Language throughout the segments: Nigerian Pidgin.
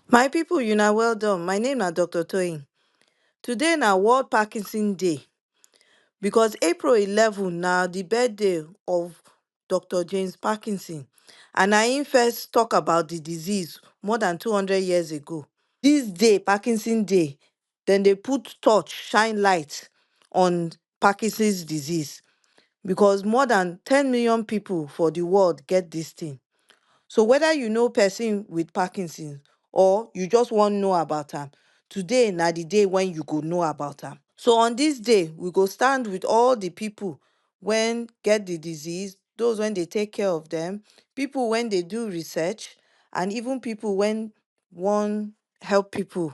My people, you are well done. My name is Dr. Toyin. Today na World Parkinson Day because April 11 na the birthday of Dr. James Parkinson and na him first talk about the disease more than 200 years ago. This day, Parkinson Day, dem dey put torch shine light on Parkinson's disease because more than ten million pipu for the world get this thing. So whether you know person with Parkinson or you just wan know about am, today na the day when you go know about am. So on this day, we go stand with all the pipu when get the disease, those when dey take care of dem, pipu when dey do research and even pipu when wan help pipu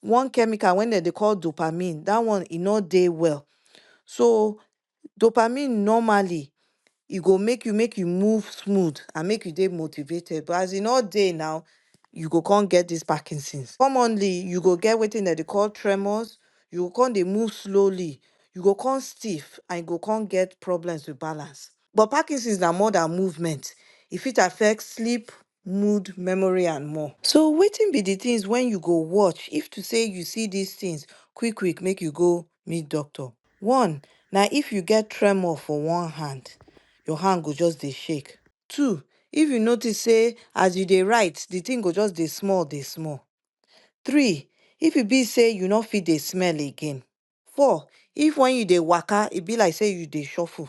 one chemical wen dem dey call dopamine dat one e nor dey well so dopamine normally e go make you make you move smooth and make you dey motivated but as e nor dey now you go come get dis parkinson. Commonly you go get wetin dem dey call tremors, you go come dey move slowly, you go come stiff and you go come get problems with balance but parkinson na more than movement e fit affect sleep, mood, memory and more. So wetin be the things wen you go watch if to say you see these things quick quick make you go meet doctor. One, na if you get tremor for one hand, your hand go just dey shake. Two, if you notice say as you dey write the thing go just dey small dey small. Three, if e be say you no fit dey smell again. Four, if wen you dey waka e be like say you dey shuffle.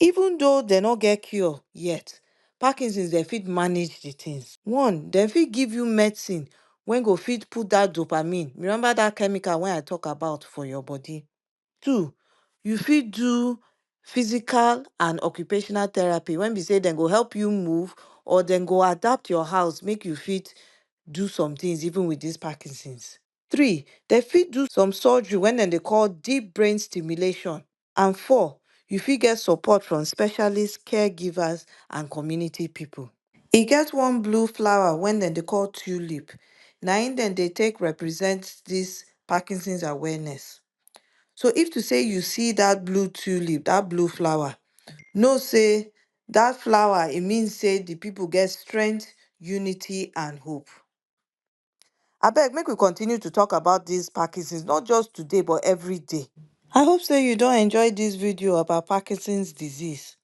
Even though dem no get cure yet, Parkinson's dem fit manage the thing. One, dem fit give you medicine wey go fit put that dopamine, remember that chemical wey I talk about for your body. Two, you fit do physical and occupational therapy when be say dem go help you move or dem go adapt your house make you fit do some things even with this Parkinson's. Three, dem fit do some surgery wey dem dey call deep brain stimulation and four, you fit get support from specialist caregivers and community people. E get one blue flower wen dem dey call tulip, na im dem dey take represent this Parkinson's awareness. So if to say you see that blue tulip, that blue flower, know say that flower e mean say the people get strength, unity and hope. Abeg, make we continue to talk about this Parkinson's, not just today, but every day. I hope so you don't enjoy this video about Parkinson's disease.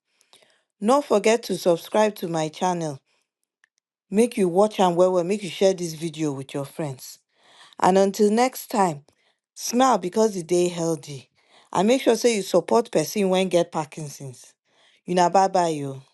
Don't forget to subscribe to my channel. Make you watch and well well, make you share this video with your friends. And until next time, smile because the day healthy. And make sure say you support person when get Parkinson's. Una bye bye yo.